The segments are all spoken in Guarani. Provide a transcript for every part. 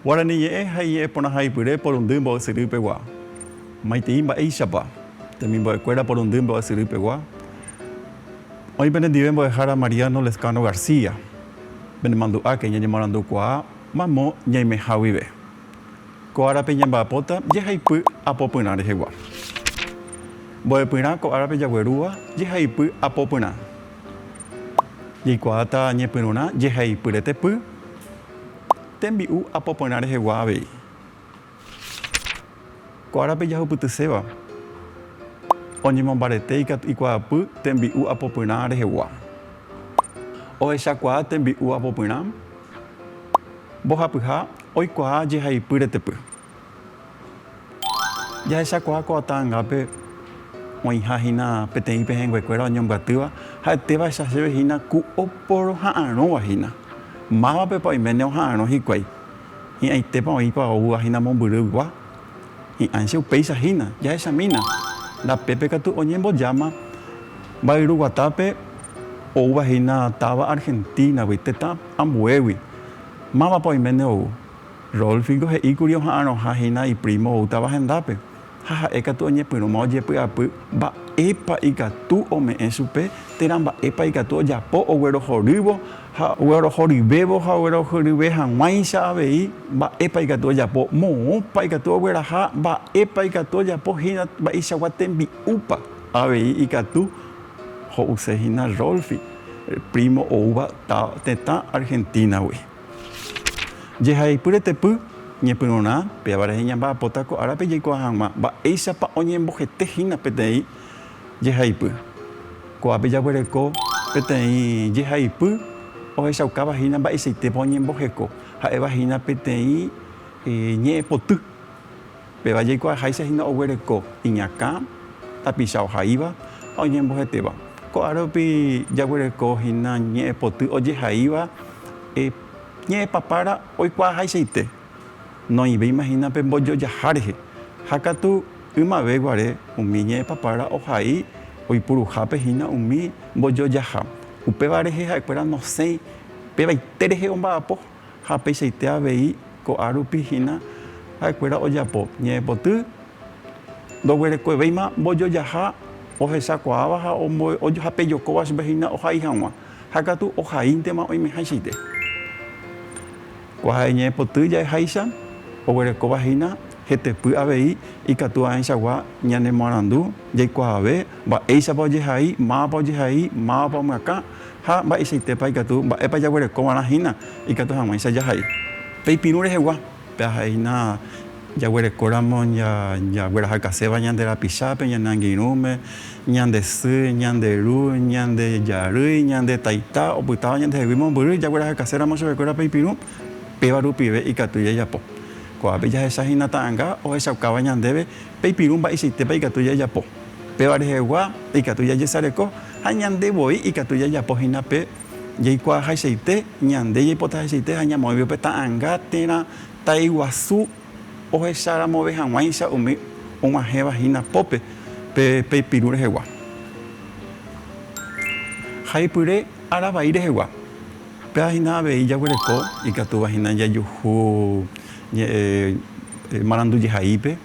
Guarani ñe'ẽ ha iñe'ẽ porãhaipyre porundy mbo'esyry pegua. Maitei mba'éichapa, temimbo'ekuéra porundy mbo'esyry pegua, oĩ penendive mbo'ehára Mariano Lezcano García, Ñanemandu'áke ñañemoarandukuaa mamo ñaimeha guive. Ko árape ñamba'apóta jehaipy apopyrã rehegua. Mbo'epyrã ko árape jaguerúva jehaipy apopyrã. Jaikuaáta ñepyrũrã jehaipyretepy tembi'u apopyrã rehegua avei. Ko árape jahupytyséva oñemombarete ikatu ikuaapy tembi'u apopyrã rehegua. Ohechakuaa tembi'u apopyrã mbohapyha oikuaa jehaipy retepy. Jahechakuaa ko ata angápe oĩha hína peteĩ pehẽnguekuéra oñombyatýva ha'etévaecha chéve hína ku oporoha'arõva hína. Mávapepa oiméne oha'arõ hikuái. Hi'ãitépa oĩpa oúva hína mombyrygua? Hi'ãicha upéicha hína. Jahechamína, ndapépe katu oñembojáma mba'yruguatápe oúva hína táva Argentínagui, tetã ambuégui. Mávapa oiméne ou? Rolfingo he'íkuri oha'arõha hína iprímo ou táva hendápe, Ha ha'e katu oñepyrũma ojepy'apy mba'épa ikatu ome'ẽ chupe térã mba'épa ikatu ojapo oguerohorývo ha oguerohoryvévo ha oguerohoryve hag̃uáicha avei mba'épa ikatu ojapo, moõpa ikatu ogueraha, mba'épa ikatu ojapo hína mba'eichagua tembi'úpa. Avei ikatu ho'use hína Rolfi, prímo oúva tetã Argentínagui. Jehaipy retepy, ñepyrũrã, péva rehe ñamba'apóta ko árape jaikuaa hag̃ua mba'éichapa oñembohete hína peteĩ jehaipy. Ko'ápe jaguereko peteĩ jehaipy ohechaukáva hína mba'eichaitépa oñemboheko, ha'éva hína peteĩ ñe'ẽpoty. Péva jaikuaaháicha hína oguereko iñakã, tapicha ohaíva ha oñembohetéva. Ko'ã rupi jaguereko hína ñe'ẽ poty ojehaíva ñe'ẽ papára oikuaahaichaite, noĩvéima hína pe mbojojaha rehe, ha katu ymave guare umi ñe'ẽ papára ohai oipuruhápe hína umi mbojojaha. Upéva rehe ha'ekuéra nosẽi pevaite rehe omba'apo. ha peichaite avei ko'ã rupi hína ha'ekuéra ojapo ñe'ẽpoty, ndoguerekovéima mbojojaha ohechakuaáva ha ha pejokóva chupe hína ohai hag̃ua, ha katu ohaíntema oimehaichaite. Kuaha ñe'ẽpoty ja'eháicha, oguerekóva hína hetepy avei ikatu aẽichagua ñanemoarandu jaikuaave mba'éichapa ojehai, mávapa ojehai, mávapa omyakã. ha mba'eichaitépa ikatu mba'épa jaguerekova'erã hína ikatu hag̃uáicha jahai. Pe ipirũ rehegua, pe ahai hína jaguerekóramo jaguerahakaséva ñande rapichápe, ñane angirũme, ñande sy, ñande ru, ñande jarýi, ñande taita opytáva ñandehegui mombyry jaguerahakaséramo chupekuéra pe ipirũ, péva rupive ikatu jajapo. Ko'ápe jahecha hína ta'anga ohechaukáva ñandéve Peipirũ mba'eichaitépa ikatu jajapo. Péva rehegua ikatu jajesareko ha ñande voi ikatu jajapo hína pe jaikuaahaichaite, ñande jaipotahaichaite ha ñamoĩve upe ta'anga térã taiguasu ohecháramove hag̃uáicha umi og̃uahẽva hína pópe pe peipirũ rehegua. Haipyre aravai rehegua. Péva hína avei jaguereko ikatúva hína jajuhu ñe'ẽ marandu jehaípe,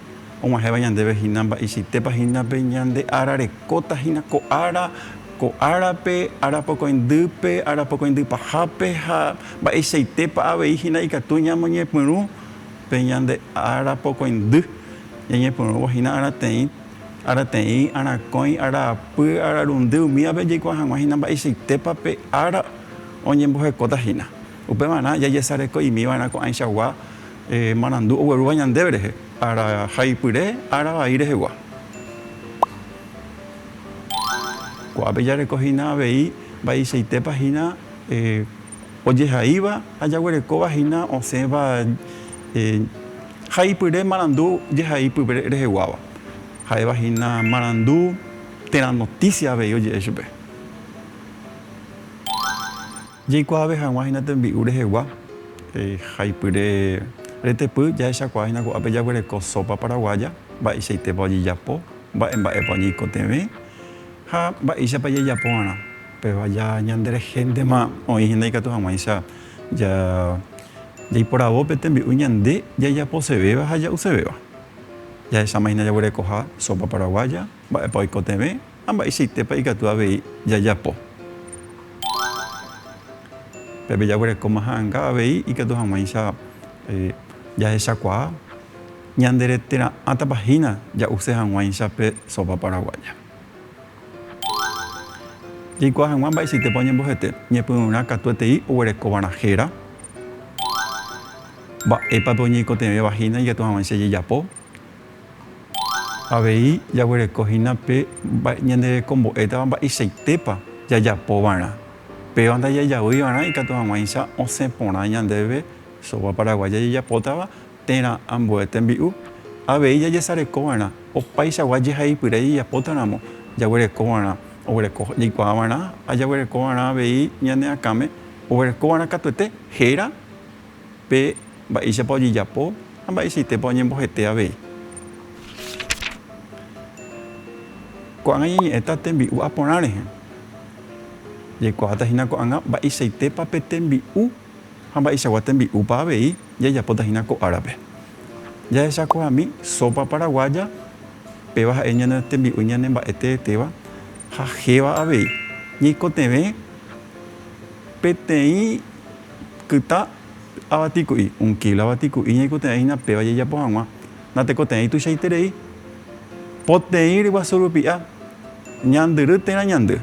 og̃uahẽva ñandéve hína mba'eichaitépa hína pe ñande ára rekóta hína ko ára, ko árape, ára pokõindýpe, ára pokõindy pahápe ha mba'eichaitépa avei hína ikatu ñamoñepyrũ pe ñande ára pokõindy, ñañepyrũvo hína árateĩ. Arateĩ, arakõi, araapy, ararundy, umívape jaikuaa hag̃ua hína mba'eichaitépa pe ára oñembohekóta hína. Upevarã jajesareko'imiva'erã ko'ãichagua marandu oguerúva ñandéve rehe, ára haipyre, ára vai rehegua. Ko'ápe jareko hína avei mba'eichaitépa hína. ojehaíva ha jaguerekóva hína osẽva haipyre marandu jehai pype reheguáva. Ha'éva hína marandu térã notísia avei oje'e chupe. Jaikuaave hag̃ua hína tembi'u rehegua haipyre retepy jahechakuaa hína ko'ápe jaguereko sópa paraguaya, mba'eichaitépa ojejapo, mba'e mba'épa oñeikotevẽ ha mba'éichapa jajapóva'erã. Pevaja ñanderehéntema oĩ hína ikatu hag̃uáicha jaiporavo pe tembi'u ñande jajaposevéva ha ja'usevéva. Jahecháma hína jaguerekoha sópa paraguaya, mba'épa oikotevẽ ha mba'eichaitépa ikatu avei jajapo. Pépe jaguerekóma ha'anga avei ikatu hag̃uáicha jahechakuaa ñanderetera'ãtapa hína ja'use hag̃uáicha pe sópa paraguaya. Jaikuaa hag̃ua mba'eichaitépa oñembohete ñepyrũrã katuetei oguerekóvarã héra, mba'épa pe oñeikotevẽ vahína ikatu hag̃uáicha jejapo. Avei jaguereko hína pe ñande rekombo'étava mba'eichaitépa jajapovarã. Péva ndajajavýivarã ikatu hag̃uáicha osẽ porã ñandéve Sopa Paraguaya jajapótava. térã ambue tembi'u, avei jajesarekova'erã opaichagua jehaipyre jejapótaramo, jaguerekova'erã oguereko jaikuaava'erã ha jaguerekova'erã avei ñane akãme oguerekova'erã katuete héra pe mba'éichapa ojejapo ha mba'eichaitépa oñembohete avei. Ko'ág̃a ñañe'ẽta tembi'u aporã rehe, jaikuaavata hína ko'ág̃a mba'eichaitépa pe tembi'u. Ha mba'eichagua tembi'úpa avei jajapóta hína ko árape? Jahechakuaami sópa paraguaya, péva ha'e ñane tembi'u ñane mba'e teetéva ha héva avei. Ñaikotevẽ peteĩ kytã avati ku'i, un kilo avati ku'i ñaikotevẽ hína péva jajapo hag̃ua. Natekotevẽi tuichaiterei. Poteĩ ryguasu rupi'a, ñandyry térã ñandy.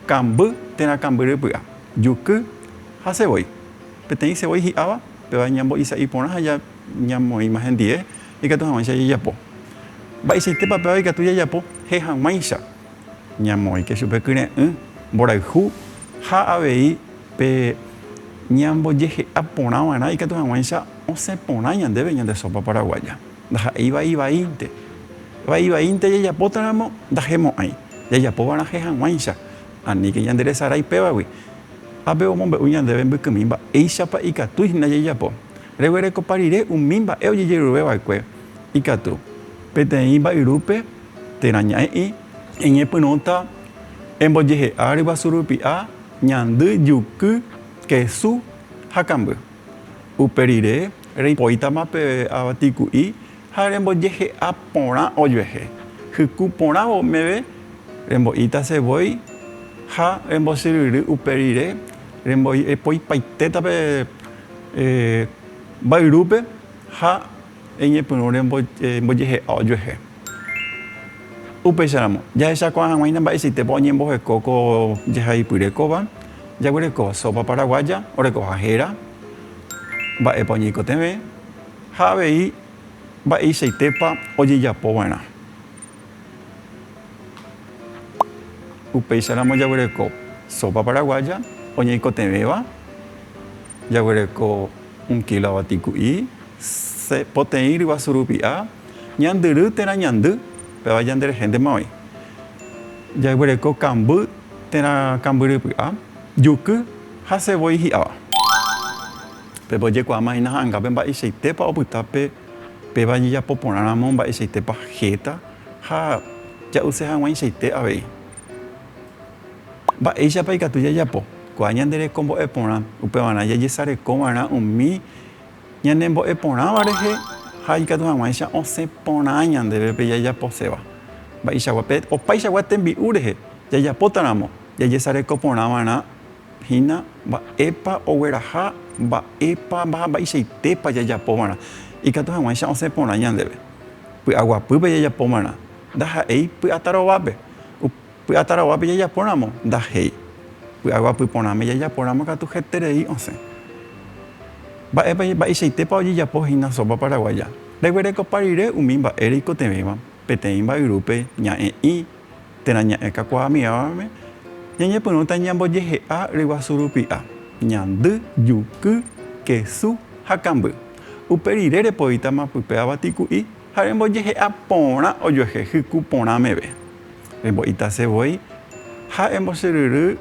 Kamby térã kambyry py'a, juky ha sevoi. Peteĩ sevoi hi'áva, pevae ñambo'i sa'i porã ha ñamoĩma hendie ikatu hag̃uáicha jajapo. Mba'eichaitépa péva ikatu jajapo he hag̃uáicha? Ñamoĩke chupe kyre'ỹ, mborayhu ha avei pe ñambojehe'a porã va'erã ikatu hag̃uáicha osẽ porã ñandéve ñande sópa paraguaya. Ndaha'éiva ivaínte. Va ivaínte jajapótaramo, ndahemo'ãi. Jajapovarãhe hag̃uáicha, aníke ñanderesarái pévagui. Ápe omombe'u ñandéve mbykymi mba'éichapa ikatúi hína jajapo. Reguerekopa rire umi mba'e ojejerure va'ekue ikatu. Peteĩ mba'yrúpe térã ñaĩ'i. Eñepyrũta embojehe'a ryguasu rupi'a, ñandy, juky, kesu ha kamby. Upe rire, reipoítama pe avatiku'i ha rembojehe'a porã ojuehe. Hyku porãvo meve, rembo'íta se voi ha rembosyryry upe rire, remboipoipaitéta pe mbayrúpe ha Eñepyrũre mbojehe'a ojuehe. Upéicharamo, jahechakuaa hag̃uáina mba'eichaitépa oñemboheko ko jehaipyre kóva, jaguereko sópa paraguaya orekoha héra, mba'épa oñeikotevẽ, ha avei mba'eichaitépa ojejapova'erã. Upéicharamo jaguereko sópa paraguaya oñeikotevẽva, jaguereko. Un kila vatiku'i, se, poteĩ ryguasu rupi a, ñandyry térã ñandy, péva ñanderehéntema oĩ. Jaguereko kamby térã kambyrypy a, juky ha se voi hi'áva. Pépe ojekuaáma hína ha'angápe mba'eichaitépa opyta pe, péva jejapo porã ramo mba'eichaitépa héta ha ja'use hag̃uaichaite avei. Mba'éichapa ikatu jajapo kua ñande reko mbo'e porã? Upevarã jajesareko va'erã umi ñane mbo'e porãva rehe ha ikatu hag̃uáicha osẽ porã ñandéve pe jajaposéva. Mba'eichagua? Pe opaichagua tembi'u rehe jajapótaramo, jajesareko porã va'erã hína mba'épa ogueraha, mba'épa ha mba'eichaitépa jajapo va'erã ikatu hag̃uáicha osẽ porã ñandéve. Py'aguapýpe jajapo va'erã, ndaha'éi py'atarovápe. Py'ataraguápe jajapóramo, ndahéi. Py'a guapy porãme jajapóramo katu heterei osẽ. Mba'épa, mba'eichaitépa ojejapo hína sopa paraguaya? Reguerekopa rire umi mba'e reikotevẽva peteĩ mba'yrúpe ña'e'ỹ térã ña'e kakuaa amigávame, ñañepyrũta ñambojehe'a ryguasu rupi'a, ñandy, juky, kesu ha kamby. Upe rire repoítama pype avatiku'i ha rembojehe'a porã ojuehe hyku porã meve. Rembo'itase voi ha embosyryry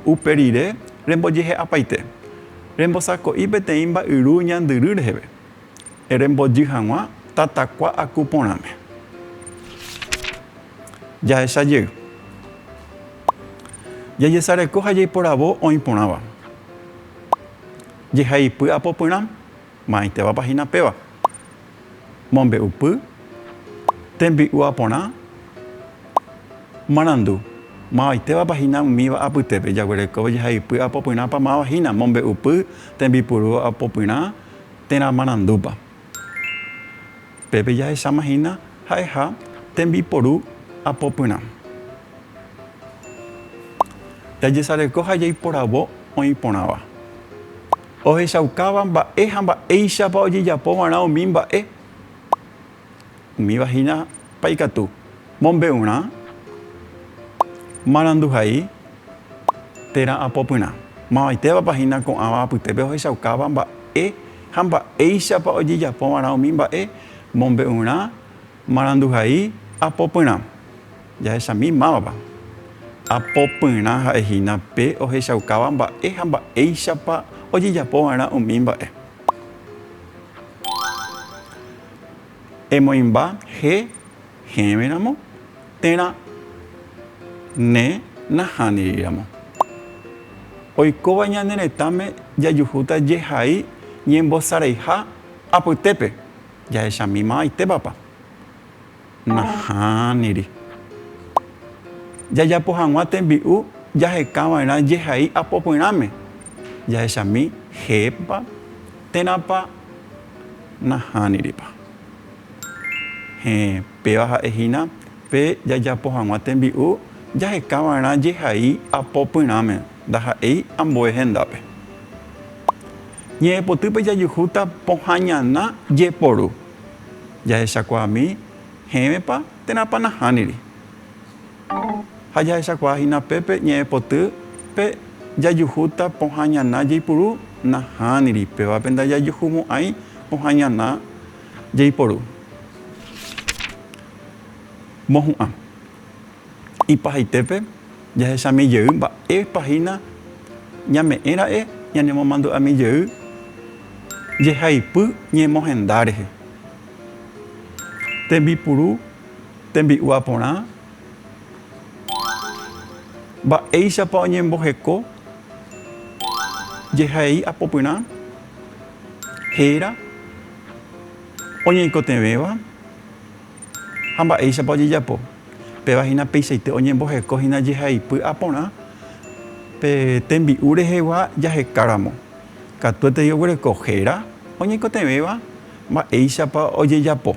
upe rire rembojehe'apaite. Rembosako'i peteĩ mba'yru ñandyry reheve. Erembojy hag̃ua tatakua aku porãme. Jahecha jey. Jajesareko ha jaiporavo oĩ porãva. Jehaipy apopyrã. ma'ãitevapa hína péva, mombe'upy, tembi'u aporã, marandu, mavaitévapa hína umíva apytépe, jaguerekóva jahaypy apopyrãpa máva hína, mombe'upy, tembipuru apopyrã térã marandúpa. Pépe jahecháma hína ha'eha tembiporu apopyrã. Jajesareko ha jaiporavo oĩ porãva. Ohechaukáva mba'e ha mba'éichapa ojejapovarã umi mba'e. Umíva hína pa ikatu, mombe'urã, maranduhai, térã apopyrã. Mavaitévapa hína ko'ãva apytépe ohechaukáva mba'e ha mba'éichapa ojejapovarã umi mba'e, mombe'urã, Maranduhai apopyrã. Jahechami mávapa. Apopyrã ha'e hína pe ohechaukáva mba'e ha mba'éichapa ojejapo va'erã umi mba'e. Emoĩmba he hẽve ramo térã ne nahániri ramo. Oikóva ñane retãme jajuhúta jehai ñembosareiha apytépe. jahechamimavaitévapa? Nahániri. Jajapo hag̃ua tembi'u jahekava'erã jehai apopyrãme, jahechami hépa térãpa? Nahániripa. Héẽ. Péva ha'e hína pe jajapo hag̃ua tembi'u jaheka va'erã jehai apo pyrãme, ndaha'éi ambue hendápe. Ñe'ẽpotýpe jajuhúta pohã ñana jeporu, jahechakuaami hẽvepa térãpa nahániri. Ha jahechakuaa hína pépe ñe'ẽpoty pe jajuhúta pohã ñana jeipuru nahániri, pévape ndajajuhumo'ãi pohã ñana Jaiporu. Mohu'ã. Ipahaitépe jahechami jey mba'épa hína ñame'ẽ ra'e ñanemomandu'ami jey jehaipy ñemohenda rehe. Tembipuru tembi'ua porã, Mba'éichapa oñemboheko jehai apopyrã, héra, Oñeikotevẽva ha mba'éichapa ojejapo. Péva hína peichaite oñemboheko hína jehaipy ha porã pe tembi'u rehegua jahekáramo. Katuetei oguereko héra oñeikotevẽva mba'éichapa ojejapo.